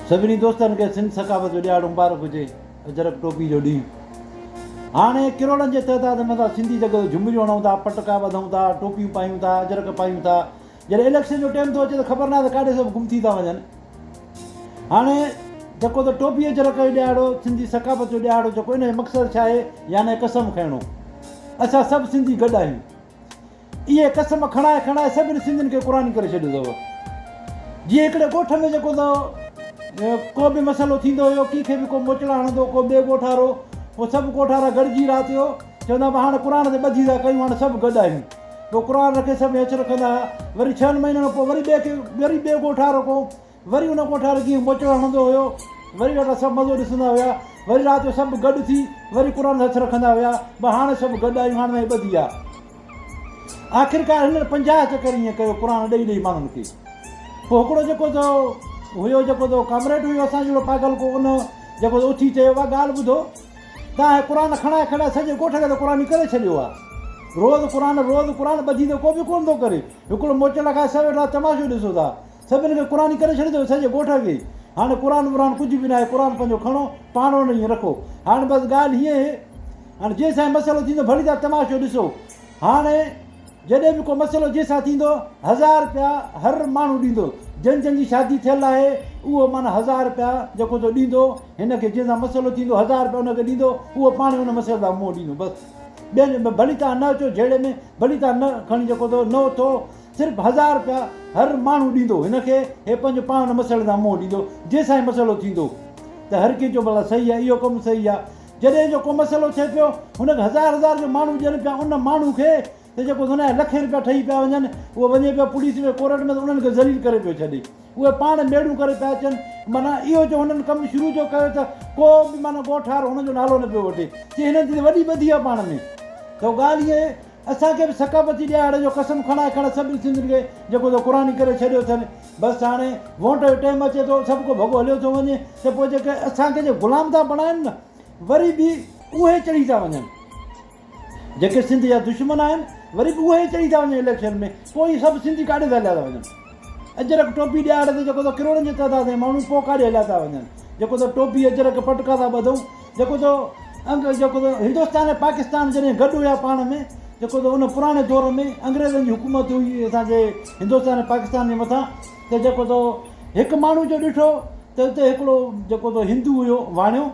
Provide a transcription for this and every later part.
سڀني دوستن کي سنڌ ثقافت جو ڏيهاڙو مبارڪ هجي اجرڪ ٽوپي جو ڏينهن هاڻي ڪروڙن جي تعداد ۾ اسان سنڌي جڳ تي جهمريون هڻون ٿا پٽڪا ٻڌون ٿا ٽوپيون پايون ٿا اجرڪ پايون ٿا جڏهن اليڪشن جو ٽيم ٿو اچي ته خبر ناهي ته ڪاڏي سڀ گم ٿي ٿا وڃن هاڻي جيڪو ته ٽوپي اجرڪ جو ڏيهاڙو سنڌي ثقافت جو ڏيهاڙو جيڪو ان جو مقصد ڇا آهي يعني قسم کڻڻو اسان سڀ سنڌي گڏ آهيون اهي قسم کڻائي کڻائي سڀني سنڌين کي قرآني ڪري ڇڏيو اٿو. جيئن هڪڙي ڳوٺ ۾ جيڪو ته ڪو به مسئلو ٿيندو هيو ڪنهن کي به ڪو موچڙا هڻندو ڪو ٻئي ڳوٺ وارو پوء سڀ ڳوٺ وارا گڏجي رات جو چوندا هئا هاڻي قرآن تي ٻڌي ٿا ڪيون هاڻي سڀ گڏ آهيون پوء قرآن رکي سڀ هيٺ رکندا هئا وري ڇهن مهينن کان پوء وري ٻئي کي وري ٻئي ڳوٺ وارو ڪو وري ان ڪوٺ وارو جيئن موچڙو هڻندو هيو وري وٽا سڀ مزو ڏسندا هيا وري رات جو سڀ گڏ ٿي وري قرآن هٿ رکندا هيا به هاڻ سڀ گڏ آهيون هاڻ ناهي ٻڌي آ آخرڪار هنن پنجاهه چڪر ائين ڪيو قرآن ڏئي ڏئي ماڻهن کي پوء هڪڙو جيڪو تو هيو جيڪو تو ڪامريڊ هيو اسان جهڙو پاگل ڪو ان جيڪو تو اٿي چيو وا ڳالهه ٻڌو تان هي قرآن کڻائي کڻائي سڄي ڳوٺ کي ته قرآني ڪري ڇڏيو آ روز قرآن روز قرآن ٻڌي ته ڪو به ڪونه ٿو ڪري هڪڙو موچڙا کائي سڀ ويٺا تماشو ڏسو ٿا سڀن کي قرآني ڪري ڇڏيو اٿئي سڄي ڳوٺ کي هاڻي قرآن ورآن ڪجهه به ناهي قرآن پنهنجو کڻو پاڻ وڻ ائين رکو هاڻي بس ڳالهه هيئن هي هاڻي جنهن سان مسئلو ٿيندو ڀلي تان تماشو ڏسو هاڻي جڏهن به ڪو مسئلو جنهن سان ٿيندو هزار رپيا هر ماڻهو ڏيندو جن جن جي شادي ٿيل آهي اهو مانا هزار رپيا جيڪو سو ڏيندو هن کي جنهن سان مسئلو ٿيندو هزار رپيا هن کي ڏيندو اهو پاڻ هن مسئلي لاء منهن ڏيندو بس ٻين ڀلي تان نه اچو جهيڙي ۾ ڀلي تان نه کڻي جيڪو نو اٿو صرف هزار رپيا هر ماڻهو ڏيندو هن کي هي پنهنجو پاڻ مسئلن سان منهن ڏيندو جي سائين مسئلو ٿيندو ته هر ڪنهن چو ڀلا صحيح آ اهو ڪم صحيح آ جڏهن جو ڪو مسئلو ٿئي پيو هن کي هزار هزار جو ماڻهو ڏين پيا ان ماڻهو کي ته جيڪو دنيا جا لکين رپيا ٺهي پيا وڃن اهو وڃي پيو پوليس ۾ ڪورٽ ۾ ته انهن کي ذليل ڪري پيو ڇڏي اهي پاڻ ميڙون ڪري پيا اچن معنيٰ اهو جو هنن ڪم شروع جو ڪيو ته ڪو به معنيٰ ڳوٺ وارو هن جو نالو نه پيو وٺي چي هنن جي ته وڏي ٻڌي آ پاڻ ۾ ته ڳالهه اهي اسان کي به ثقافتي ڏيهاڙي جو قسم کڻائي کڻ سڀني سنڌين کي جيڪو سو قراني ڪري ڇڏيو اٿن بس هاڻي وونٽ جو ٽيم اچي ٿو سڀ ڪو ڀڳو هليو ٿو وڃي ته پوء جيڪي اسان کي جي غلام ٿا بڻائن نه وري به اهي چڙهي ٿا وڃن جيڪي سنڌ جا دشمن آهن وري به اهي چڙهي ٿا وڃن اليڪشن ۾ پوء اهي سڀ سنڌي ڪاڏي ٿا هليا ٿا وڃن اجرڪ ٽوپي ڏيهاڙي تي جيڪو سو ڪروڙن جي تعداد ۾ ماڻهو پوء ڪاڏي هليا ٿا وڃن جيڪو سو ٽوپي اجرڪ پٽڪا ٿا ٻڌون جيڪو تو انگ جيڪو تو هندستان ۽ پاڪستان جڏهن گڏ هيا پاڻ ۾ جيڪو تو ان پراڻي دور ۾ انگريزن جي حڪومت هئي اسان جي هندستان ۽ پاڪستان جي مٿان ته جيڪو تو هڪ ماڻهو جو ڏٺو ته اتي هڪڙو جيڪو تو هندو هيو واڻيو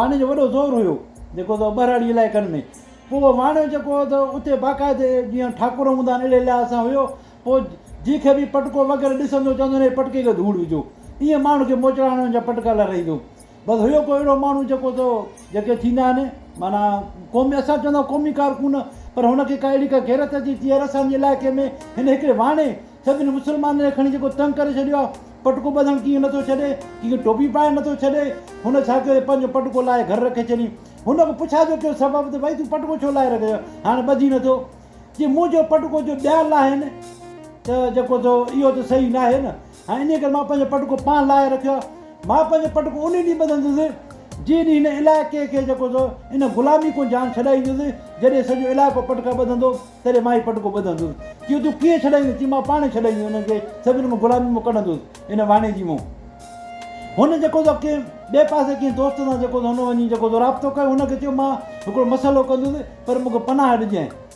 واڻي جو وڏو زور هيو جيڪو تو ٻهراڙي علائقن ۾ پوء واڻيو جيڪو هو ته اتي باقاعدي جيئن ٺاڪر هوندا آهن اهڙي لحاظ سان هيو پوء جنهن کي به پٽڪو وغيره ڏسندو چوندو هن جي پٽڪي کي ڌوڙ وجهو ائين ماڻهو کي موچڙا هڻڻ جا پٽڪا لارائيندو بس هيو ڪو اهڙو ماڻهو جيڪو ته جيڪي ٿيندا آهن معنيٰ قومي اسان چوندا آهيون قومي ڪارڪن پر هن کي ڪا اهڙي ڪا غيرت اچي ٿي يار اسان جي علائقي ۾ هن هڪڙي واڻي سڀني مسلمانن کي کڻي جيڪو تنگ ڪري ڇڏيو آهي پٽڪو ٻڌڻ ڪيئن نه ٿو ڇڏي ڪيئن ٽوپي پائڻ نه ٿو ڇڏي هن ڇا ڪيو پنهنجو پٽڪو لاهي گهر رکي ڇڏي هن کي پڇا جو ڪيو سبب ته ڀائي تون پٽڪو ڇو لاهي رکي هاڻي ٻڌي نه ٿو جي منهنجو پٽڪو جو ٻيا لاهين ته جيڪو ٿو اهو ته صحيح ناهي نه ها انهيء ڪري مان پنهنجو پٽڪو پاڻ لاهي رکيو آهي. مان پنهنجو پٽڪو انهيء ڏينهن ٻڌندس، جنهن ڏينهن هن علائقي کي جيڪو سو ان غلامي کون جان ڇڏائيندس. جڏهن سڄو علائقو پٽڪا ٻڌندو، تڏهن مان هي پٽڪو ٻڌندس. چيو، تون ڪيئن ڇڏائيندين؟ چيم، مان پاڻ ئي ڇڏائيندس انهن کي، سڀني کان غلامي مان ڪڍندس. ان واڻي جي مون هن جيڪو سو ڪنهن ٻئي پاسي ڪنهن دوست سان جيڪو سو هن وڃي جيڪو سو رابطو ڪيو. هن کي چيو، مان هڪڙو مسئلو ڪندس، پر مون کي پناهه ڏجانء.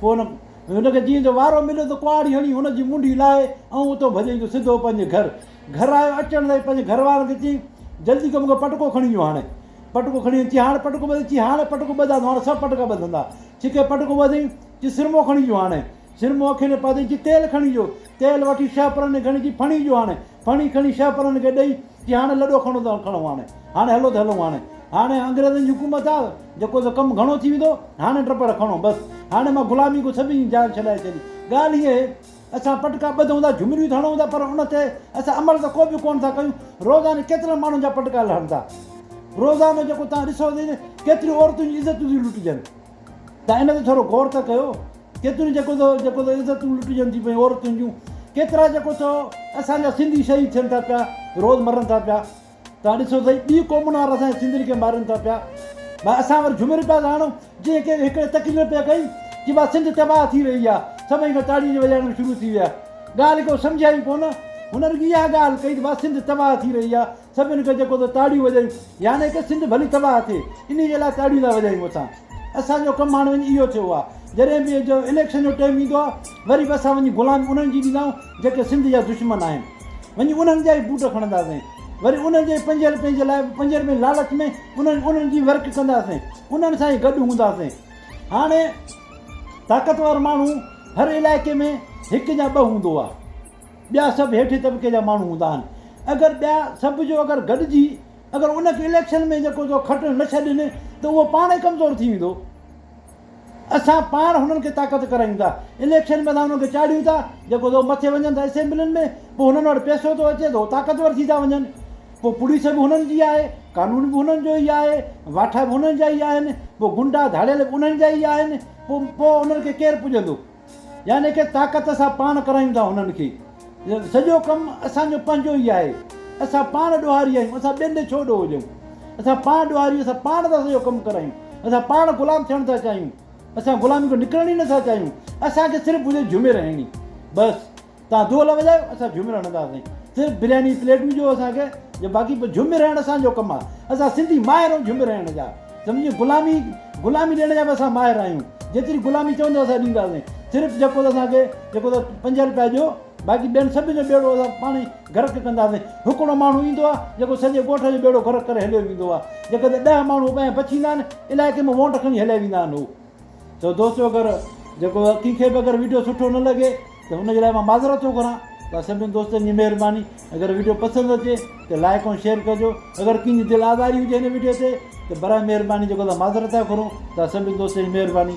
پوء هن هن کي جيئن جو وارو مليو ته ڪهاڙي هڻي هن جي منڍي لاهي ۽ اتو ڀڄي جو سڌو پنهنجي گهر گهر آيو اچڻ تائين پنهنجي گهر وارن کي چيائين جلدي ڪر مون کي پٽڪو کڻي اچو هاڻي پٽڪو کڻي اچي هاڻي پٽڪو ٻڌي چي هاڻي پٽڪو ٻڌان ٿو هاڻي سڀ پٽڪا ٻڌندا ڇڪي پٽڪو ٻڌي چي سرمو کڻي اچو هاڻي سرمو اکين تي پاتائين چي تيل کڻي اچو تيل وٺي شهه پرني کڻي چي ڦڻي اچو هاڻي ڦڻي کڻي شهه پرن کي ڏئي چي هاڻي لڏو کڻو ته کڻو هاڻي هاڻي هلو ته هلون هاڻي هاڻي انگريزن جي حڪومت آ جيڪو سو ڪم گهڻو ٿي ويندو هاڻي ٽپڙ کڻو بس هاڻي مان غلامي کان سڀني جي جان ڇڏائي ڇڏي ڳالهه هيء اهي اسان پٽڪا ٻڌون ٿا جهمريون ٿا هڻون ٿا پر ان تي اسان عمل ته ڪو به ڪونه ٿا ڪيون روزاني ڪيترن ماڻهن جا پٽڪا لهن ٿا روزانو جيڪو توهان ڏسو ته ڪيتريون عورتن جون عزتون ٿيون لٽجن ته ان تي ٿورو غور ته ڪيو. ڪيتريون جيڪو ٿو جيڪو ٿو عزتون لٽجن ٿيون پيون عورتن جون. ڪيترا جيڪو ٿو اسان جا سنڌي شهيد ٿين ٿا پيا، روز مرن ٿا پيا. توهان ڏسو سهي ٻي قومن وارا اسان جي سنڌين کي مارين ٿا پيا. ڀا اسان وري جهومير پيا ساڻون جنهن ڪنهن هڪڙي تقرير پيا ڪئي چي ڀا سنڌ تباهه ٿي رهي آ. سڀئي کان تاڙين جي وڄائڻ ۾ شروع ٿي ويا. ڳالهه ڪو سمجهيا ئي ڪونه. هن رڳي اها ڳالهه ڪئي ته ڀا سنڌ تباهه ٿي رهي آ. سڀن کان جيڪو ته تاڙيون وڄايون يعني ڪه سنڌ ڀلي تباهه ٿئي انهي جي لاء تاڙيون ٿا وڄايون اسان اسان جو ڪم هاڻي وڃي اهو ٿيو آهي جڏهن به جو اليڪشن جو ٽيم ايندو آهي وري به اسان وڃي غلامي انهن جي ڏيندا آهيون جيڪي سنڌ جا دشمن آهن وڃي انهن جا ئي بوٽ کڻنداسين وري انهن جي پنج رپين جي لاء پنج رپين لالچ ۾ انهن انهن جي ورڪ ڪنداسين انهن سان ئي گڏ هونداسين هاڻي طاقتور ماڻهو هر علائقي ۾ هڪ يا ٻه هوندو آهي ٻيا سڀ هيٺين طبقي جا ماڻهو هوندا آهن اگر ٻيا سڀ جو اگر گڏجي اگر ان کي اليڪشن ۾ جيڪو جو کٽڻ نه ڇڏين ته اهو پاڻ ئي ڪمزور ٿي ويندو اسان پاڻ هنن کي طاقت ڪرايون ٿا اليڪشن ۾ اسان هنن کي چاڙهيون ٿا جيڪو جو مٿي وڃن ٿا اسيمبلين ۾ پوء هنن وٽ پئسو ٿو اچي ته هو طاقتور ٿي ٿا وڃن پوء پوليس به هنن جي آهي قانون به هنن جو ئي آهي واٺا به هنن جا ئي آهن پوء گنڊا ڌاڙيل به انهن جا ئي آهن پوء پوء انهن کي ڪير پڄندو يعني ڪي طاقت سان پاڻ ڪرايون ٿا انهن کي سڄو ڪم اسان جو پنهنجو ئي آهي اسان پاڻ ڏوهاري آهيون اسان ٻين ڏي ڇو ڏوهه ڏيون اسان پاڻ ڏوهاري اسان پاڻ ٿا سڄو ڪم ڪرايون اسان پاڻ غلام ٿيڻ ٿا چاهيون اسان غلامي کان نڪرڻ ئي نٿا چاهيون اسان کي صرف هجي جهومي رهڻي بس توهان دول وڄايو اسان جهومر هڻنداسين صرف برياني پليٽون ڏيو اسان کي جو باقي پوء جهومر هڻڻ اسان جو ڪم آهي اسان سنڌي ماهر آهيون جهومر هڻڻ جا سمجهيو غلامي غلامي ڏيڻ جا به اسان ماهر آهيون جيتري غلامي چوندو اسان ڏينداسين صرف جيڪو اسان کي جيڪو ته پنج روپيا ڏيو باقي ٻين سڀ جو ٻيڙو اسان پاڻ ئي غرق ڪنداسين هڪڙو ماڻهو ايندو آهي جيڪو سڄي ڳوٺ جو ٻيڙو غرق ڪري هليو ويندو آهي جيڪڏهن ڏهه ماڻهو ٻه ۽ بچيندا آهن علائقي ۾ وونٽ کڻي هليا ويندا آهن هو ته دوستو اگر جيڪو ڪنهن کي به اگر ويڊيو سٺو نه لڳي ته ان جي لاء مان معذرت ٿو گهران ته سڀني دوستن جي مهرباني اگر ويڊيو پسند اچي ته لائق ۽ شيئر ڪجو اگر ڪنهن جي دل آزاري هجي هن ويڊيو تي ته براء مهرباني جيڪو معذرت ٿا گهرون ته سڀني دوستن جي مهرباني